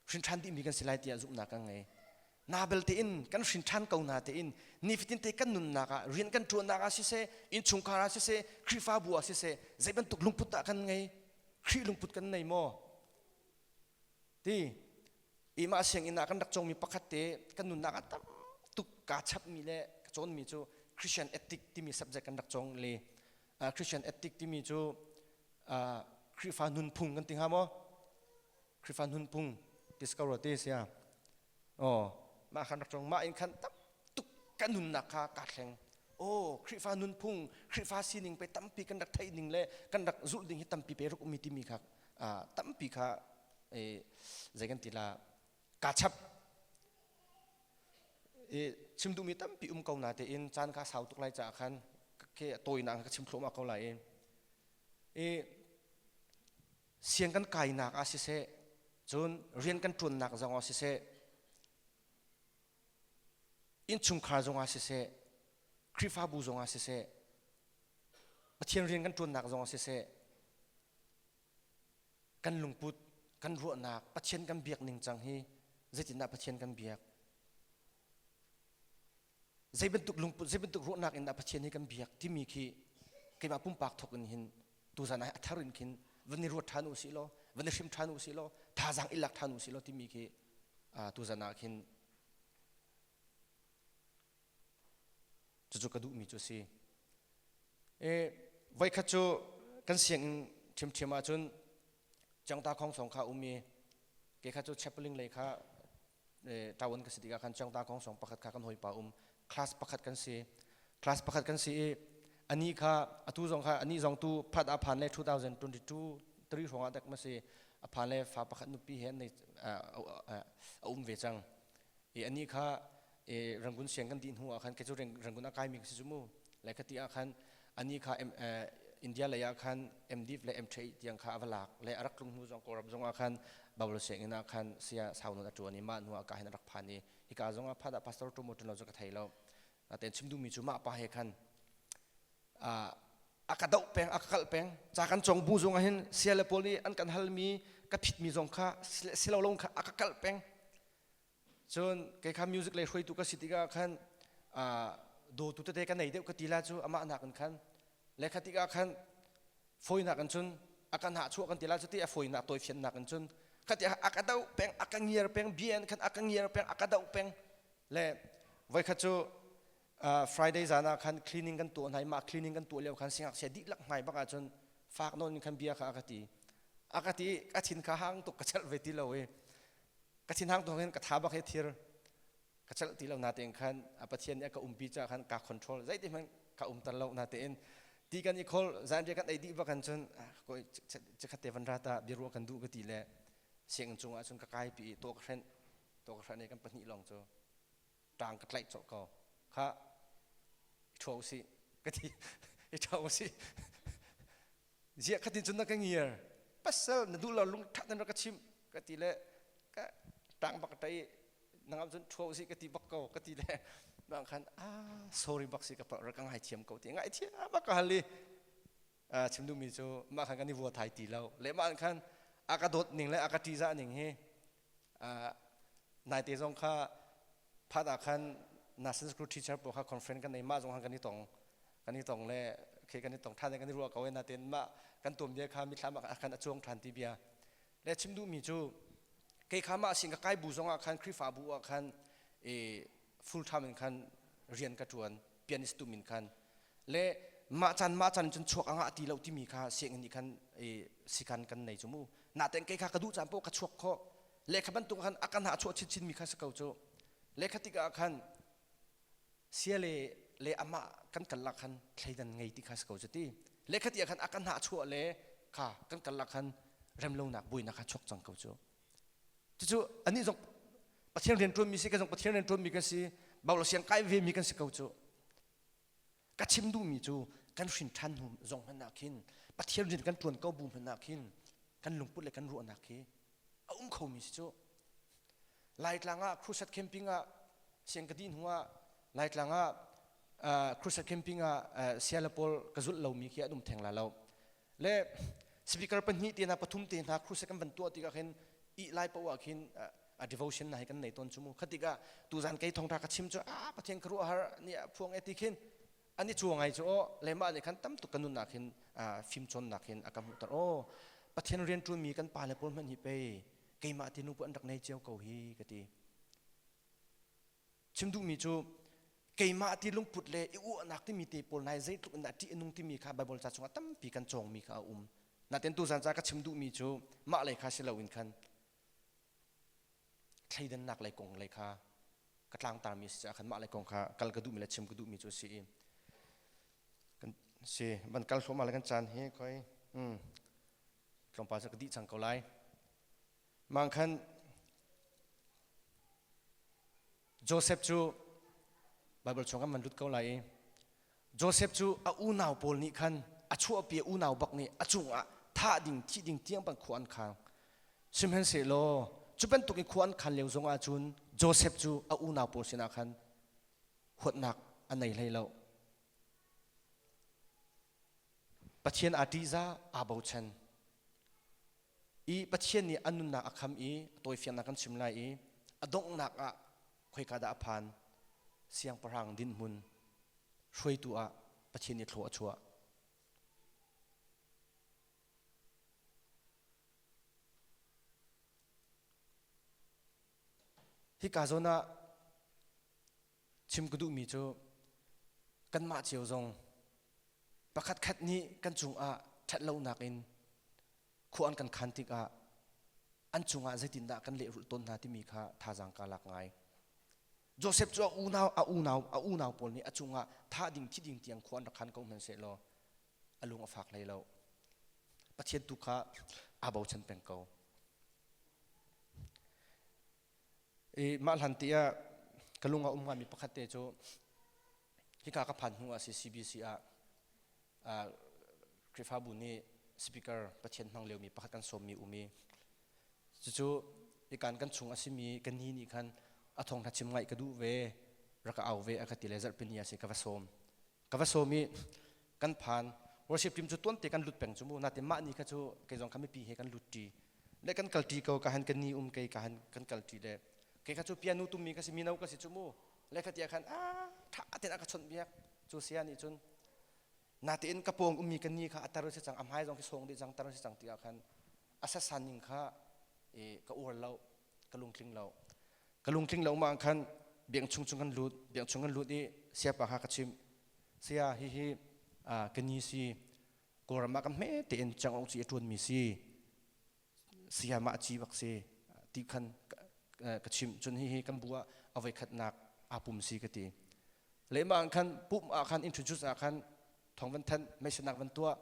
S1: hrin ṭhan dihmi kan si lai tiah zumhnak kan ngei na belte in kan hrin ṭhan ko na tein nifatin te kan nunnak ah rian kan ṭuannak ah siseh innchungkhar ah siseh khrihfabu ah siseh zei bantuk lungput dah kan ngei khrih lungput kan nei maw ti imah sianginn ah kan rak cawngmi pakhat te kan nunnak ah tam tuk kaa chapmi le ka cawnmi cu Christian ethic timi subject kan rak cawng le uh, Christian ethic timi cu uh, Khrihfa nunphung kan ti hnga maw Khrihfa nunphung discover te sia oh mah khan rak ṭong mah in khan tam tuk kan nunnak kha kaa thleng oh Khrihfa nunphung Khrihfa sining pe tampi kan rak theih ning le kan rak zulh ding hi tampi pe ruk ummi timi kha uh, tampi kha eh, zei kan ti la kaa chap i chim duhmi tampi um ko na te in caan kha sau tuk lai caah khan ke tawi na ka chim thloma ko lai i siang kan kainak ah siseh cun rian kan ṭuannak zongah siseh innchungkhar zongah siseh Khrihfabu zongah siseh Pathian rian kan ṭuannak zongah siseh kan lungput kan ruahnak Pathian kan biak ning cang hi zeitindah Pathian kan biak zei bantuk lungput zei bantuk ruahnak in dah pathian hi kan biak timi khi keimah pumpak thok in hin tuzan ah a thar in khin van i ruat ṭhan u si law van i hrim ṭhan u si law thazaang i lak ṭhan u si law timi khi tuzan ah khin cucu ka duhmi cu si e voikhat cu kan sianginn ṭhiamṭhiam ahcun Cengta khong song kha um i ke kha cu chapling lei kha ṭaun ka si tikah khan cengta khong song pakhat kha kan hawipa um class pakhat kan si class pakhat kan si i ani kha atu zong kha ani zong tu phat a phan le 2022 3 hrawngah dek ma si a phan le fa pakhat nupi he an nei a um ve cang i ani kha e rangun siang kan dih hnu ah khan ke cu rangun a kai mi si mu lai khati ah khan ani kha india lei ah khan mdf le mthe tiang kha ava lak le arak tlung hnu zong kawlram zong ah khan babul siang in ah khan sia saunu a tuan i ma hnu ah ka hin arak phan i hika zong ah phada pastor tumo tunlo chu ka thei lo naten chim du mi chu ma pa he khan a ka doh peng a ka kal peng cha kan chong bu zong ah hin sia le paul nih an kan hal mi ka phit mi zong kha silo long kha a ka kal peng cun kei kha music lei hruaitu ka si tikah khan dawtu tete ka nei deuh ka ti la cu amah nak in khan lekha tikah khan fawinak in cun a kan hah chuah kan ti la cu ti a fawinak tawifiannak in cun khati a ka doh peng a ka ngiar peng bia in khan a ka ngiar peng a ka doh peng le voikhat cu friday zan ah khan cleaning kan tuah hnai mah cleaning kan tuah lio khan singaksia dihlak hnai bak ah cun fak nawn in khan bia kha a ka ti a ka ti a thin kha hang tuk ka chelh ve ti lo i ka thinhang thawng hin ka tha bak hi thir ka chalh ti lo na tein khan a pathian nih a ka umpi caah khan ka control zeiti hmanh ka umter lo na tein ti kan i khol zanriah kan ei dih bak an cun koi cikhat te van ra ta biaruah kan duh ka ti le siang cungah cun ka kai pi to ka hrenh to ka hrenh i kan pahnih lawng cu ṭang ka tlaih cawlh ko kha i ṭhaw usih ka ti i ṭhau usih ziah khatin cun na ka ngiar pasal na duh lo lungṭhat nan rak ka chimh ka ti le ka ṭang bak ṭai nang ah cun ṭhaw usih ka ti bak ko ka ti le bang khan a sorry bak si ka rak ka ngai thiam ko ti ngai thiam bak ka hal i chim duhmi cu mah khan kan i vua thai ti lo le mah khan a ka dawt ning le a ka ṭihzah ning hi Naite zong kha phat ah khan National School Teacher pawl kha conference kan ei mah zong kan i tong kan i tong le khi kan i tong ṭhan le kan i ruah ko e natein mah kan tuanbia kha mithlam ah khan a cuang ṭhan ti bia le chim duhmi cu kei kha mah sin ka kai bu zong ah khan Khrihfabu ah khan i full time in khan rian ka ṭuan pianist tu min khan le mah chan mah chan cun chuak a ngah ti lo timi kha siang nih khan si khan kan nei cu mu na ten kei kha ka duh caan poh ka chuak kho lekha bantuk khan akan ha chuah chin mi kha sa ko cu lekha tik ah khan sia le le ama kan kallak khan thleidan ngei ti kha sa ko cu ti lekha ti khan akan ha chuah le kha kan kallak khan remlonak buina kha chuak cang ko cu Cucu anih zong Pathian rian ṭuanmi si, ka zong Pathian rian ṭuanmi kan si, bau le siang kai vemi kan si ko cu. Ka chim duhmi cu kan hrin ṭhan hnu zong hmanh ah khin, Pathian rian kan ṭuan ko bu hmanh ah khin, kan lungput le kan ruahnak hi a um khomi si cu. Laitlang ah crusade camping ah siang ka dih hnu ah Laitlang ah crusade camping ah sia le pawl ka zulh lomi khi an um theng la lo. le speaker pahnih te hna pathum te hna crusade kan van tuah tikah khin ih lai poh ah khin a devotion na hi kan nei tawn chu mu khatika tuzan kei thongtha ka chim chu a pathian ka ruah har ni a phuang eti khin ani chuangai chu o lema ni khan tam tuk kanun nak hin fim chon nak hin akam tar o pathian rian tu mi kan pa le pol man hi pe keima ti nu pu an rak nei cheu ko hi kati Chim duhmi cu keimah ti lungput le i uahnak timi te pawl nai zeitluk in dah ṭih nung timi kha Baibal ca chungah tampi kan cawngmi kha a um. Natin tuzan ca ka chim duhmi cu mah lei kha si loin khan thleidannak lei kong lei kha ka tlangtarmi a si caah khan mah lei kong kha kal ka duhmi le chim ka duhmi cu a si i kan si van kal hluahmah le kan caan hi khoi hmm tlawmpal cu ka dih cang ko lai Mangkhan Joseph cu Baibal chung kan van lut ko lai i Joseph cu a unau pawl nih khan a chuahpi unau bak nih a cungah thah ding thih ding tiang ban khua an khang sihmanhsehlaw cu bantukin khua an khan lio zongah cun Joseph cu a unau pawl sinah khan huatnak a nei hlei lo Pathian aa ṭihzah, aa bochan. I Pathian nih an nunnak a kham i a tawifiannak kan chim lai i a donghnak ah khoika dah a phan? Siangpahrang dinhmun hruaitu ah Pathian nih thlaw a chuah. Hika zawn ah chim ka duhmi cu kanmah cio zong Pakhatkhat nih kan cungah ṭhatlonak in khua an kan khan tikah an cungah zeitindah kan lehrulh tawn hna timi kha thazaang kaa lak ngai. Josef cu a unau a unau a unau pawl nih a cungah thah ding thi ding tiang khua an rak khan ko hmanhsehlaw a lung a fak hlei lo. Pathian tu kha aa bochan peng ko. I mah hlanti ah ka lung a um ngaimi pakhat te cu hika ka phan hnu ah si CBC ah uh, Khrihfabu nih speaker Pathian hmang liomi pakhat kan sawmmi um i cucu ikan kan chung a simi ka ni nih khan a thawngtha chim ngai ka duh ve rak ka au ve a ka ti le zarhpini ah si ka va sawm ka va sawm i kan phan worship team cu tuante kan lut peng cu mu natin mah ni kha cu kei zong kami pi he kan lut ṭi le kan kal ṭi ko ka han ka ni um kei ka han kan kal ṭi le kei kha cu pianu tummi ka si mino ka si cu mu le khatiah khan a ṭha ten a ka chawnh biak cu sia nih cun natin ka pawng ummi ka ni kha a tar si cang a hmai zong khi sawng dih cang tar si cang tiah khan a sasan ning kha ka uar lo ka lungtling lo ka lungtling lo ma khan biang chung chung kan lut biang chung kan lut i siapa ha ka chim saya hihi ka ni si kawlram ah kan hme tein changong ci a tuan mi si saya ma ci bak si ti khan ka chim cun hihi kan bu ah avoi khatnak apum si ka ti le ma khan pum ah khan introduce ah khan thong van than meisinak van tuah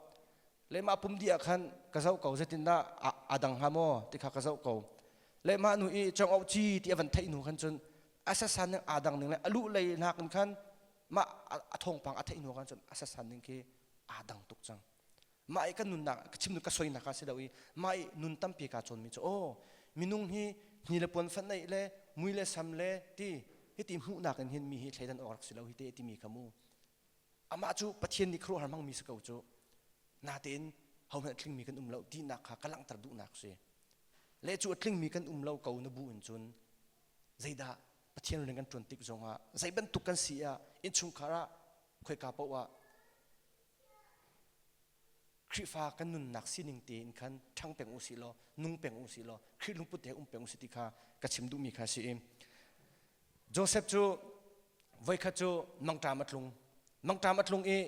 S1: le mah pum di ah khan ka zoh ko zetindah a dang hnga maw ti kha ka zoh ko le mah nu i chong ci ti a van theih nu khan cun asasan ning aa dang ning le a lu lei nak in khan mah a thongpang a theih nu khan cun asasan ning khi aa dang tuk cang mah i kan nunnak chimnu ka soinak ka si lo i mah i nun tampi ka cawn mi cu o minung hi ni le puan fan le mui le sam le ti hiti hmuhnak in hin mi hi thleidan awk rak si lo hi te ti mi kha mu amah cu Pathian nih khuaruahhar hmangmi si ko cu natein hohmanh a tlingmi kan um lo tinak kha ka langhter duhnak a si le cu a tlingmi kan um lo ko na bu in cun zeidah Pathian rian kan ṭuan tik zongah zei bantuk kan si ah innchungkhar ah khoika paoh ah Khrihfa kan nunnak sining tein khan ṭhang peng u si law nung peng u si law Khrih lungput he um peng u si ti kha ka chim duhmi kha a si i Josef cu voikhat cu mangṭam a tlung. Mangṭam a tlung i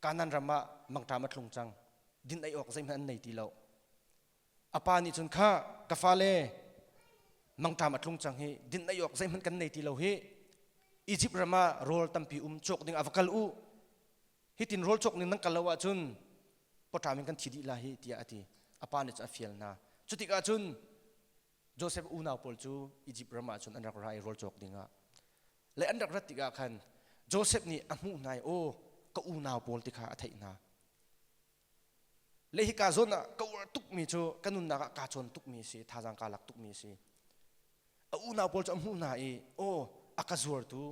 S1: Kanan ram ah mangṭam a tlung cang. Din ei awk zeihmanh an nei ti lo. A pa nih cun, Kha ka fale, mangṭam a tlung cang hi, din ei awk zeihmanh kan nei ti lo hi. Izipt ram ah rawl tampi um, cawk ding ah va kal u. Hitin rawl cawk ning nan kal lo ahcun pawṭam in kan thi dih lai hi, tiah a ti. A pa nih cun a fial hna. Cu tikah cun Josef unau pawl cu Izipt ram ah cun an rak ra i rawl cawk dingah le an rak rat tikah khan Josef nih a hmuh hna i aw ka unau pawl ti kha a theih hna le hika zawn ah ka uar tukmi cu ka nunnak ah kaa cawn tukmi a si thazaang kaa lak tukmi a si a unau pawl cu a hmuh hna i aw a ka zuartu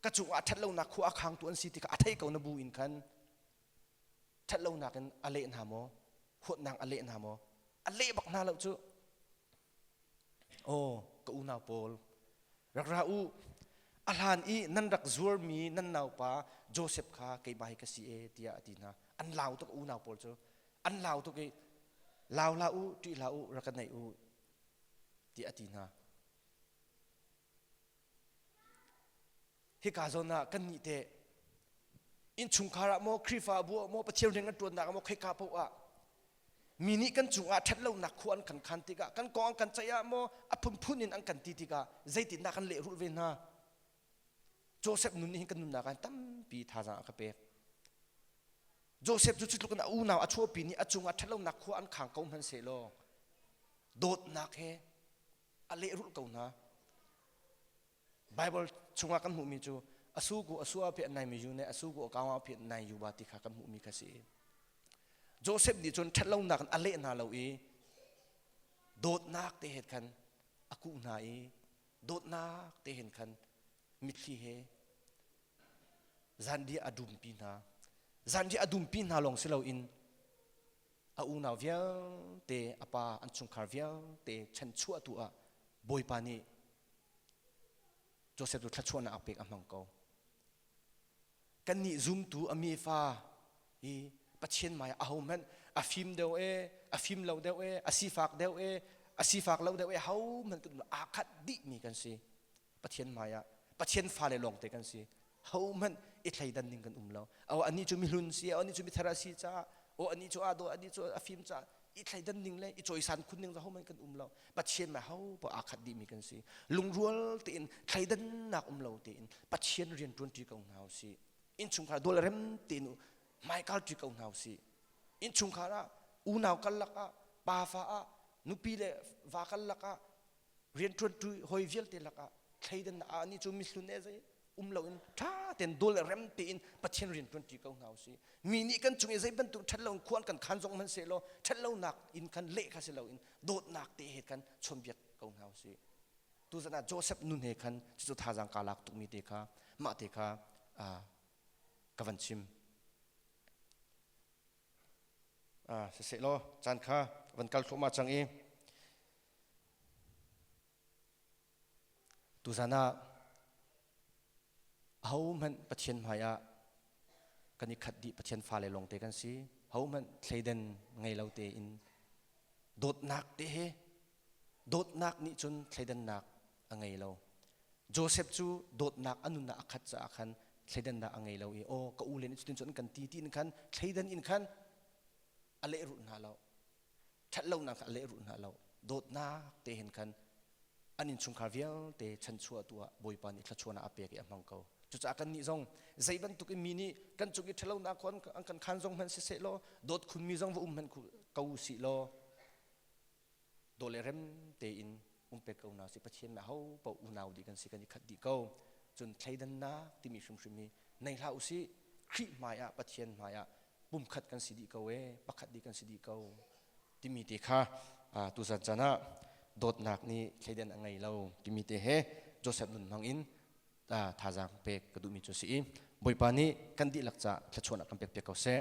S1: ka cungah ṭhat lonak khua a khangtu an si ti kha a thei ko na bu in khan ṭhatlonak in a leh hna maw? Huatnak a leh hna maw? A leh bak hna lo cu. Aw, ka unau Paul, rak ra u. A hlan i nan rak zuarmi nan naupa Josef kha keiba hi ka si e tiah a ti hna. An lau tuk unau Paul cu. An lau tuk i, lau hlah u, ṭih hlah u, rak ka neih u, tiah a ti hna. Hika zawn ah kannih te innchungkhar ah maw Khrihfabu ah maw Pathian rian kan ṭuannak ah maw khoika paoh ah mi nih kan cungah ṭhatlonak khua an kan khan tikah kan kong an kan ceih ah maw a phunphun in an kan ti tikah zeitindah kan lehrulh ve hna Joseph nun nih hin kan nunnak ah tampi thazaang a ka pek Joseph cu cutluk in a unau a chuahpi nih a cungah ṭhatlonak khua an khang ko hmanh sehlaw dawtnak he a lehrulh ko hna bible chungah kan hmuhmi cu asuku asua phi naimi yu ne asuku akawa phi nai yuba ti kha kan hmuhmi kha si joseph nih cun ṭhatlonak in a leh hna lo i dawtnak te he khan a kuh hna i dawtnak te hen khan mitthli he zan dia a dumpi hna zan dia a dumpi hna lawng si loin a unau vialte a pa an chungkhar vialte chanchuahtu ah Bawipa nih Joseph cu thluachuahnak pek a hmang ko. Kannih zumtu a mi fa hi Pathian mai a hmanh a fim deuh e a fim lo deuh e a sifak deuh e a sifak lo deuh e ho hmanh kan aa khat dih mi kan si. Pathian hmaiah Pathian fale lawngte kan si hohmanh i thleidan ding kan um lo o anih cu mihlun si anih cu mithar a si caah o anih cu aa daw anih cu a fim caah i thleidan ding le i cawisan khun ding hohmanh kan um lo Pathian ma hopa aa khat dihmi kan si lungrual tein thleidannak um lo tein Pathian rian ṭuanṭi ko hna u si innchungkhar dawl rem tein hmaikal ṭi ko hna u si innchungkhar ah unau karlak ah pafa ah nupi le va karlak ah rianṭuanṭu hawi vialte lakah thleidan na ah ni cu mihlun e zei um lo in ṭha tein dol rem tein Pathian rianṭuanṭi ko hna usih mi nih kan chung i zei bantuk ṭhat lo in khuan kan khan zong hman se law ṭhat lonak in khan leh kha si lo in dawtnak te he kan chawnbiak ko hna usih tuzan ah Joseph nun he khan cucu thazaang ka lak tukmi te kha mah te kha ka van chim siseh law caan kha van kal thluahmah cang i Tuzan ah ahohmanh Pathian hmaiah kan i khat dih Pathian fale lawngte kan si hohmanh thleidan ngei lo tein dawtnak te he dawtnak nih cun thleidannak a ngei lo Joseph cu dawtnak a nunah a khat caah khan thleidannak a ngei lo i aw ka u le nih cutin cun an kan ti ti in khan thleidan in khan a lehrulh hna lo ṭhatlonak a lehrulh hna lo dawtnak te hen khan an innchungkhar vialte chanchuahtu ah Bawipa nih thluachuahnak a pek i a hmang ko cucaah kannih zong zei bantuk in mi nih kan cung i ṭhatlonak an kan khan zong hmanh siseh law dawt khunmi zong va um hmanh ko u sih law daw le rem tein umpek ko na si pathian ma ho pa unau di kan si kan i khat di ko cun thleidan na timi hrimhrim hi nei hla usi khrih hmai ah pathian hmai ah pumkhat kan si di ko e pakhat di kan si di ko timi te kha tuzan chan ah dawtnak nih thleidan a ngei lo timi te he joseph nun hmang in thazang pek ka duhmi cu si i bawipa nih kan dihlak ca thlachuan kan pek pe ko seh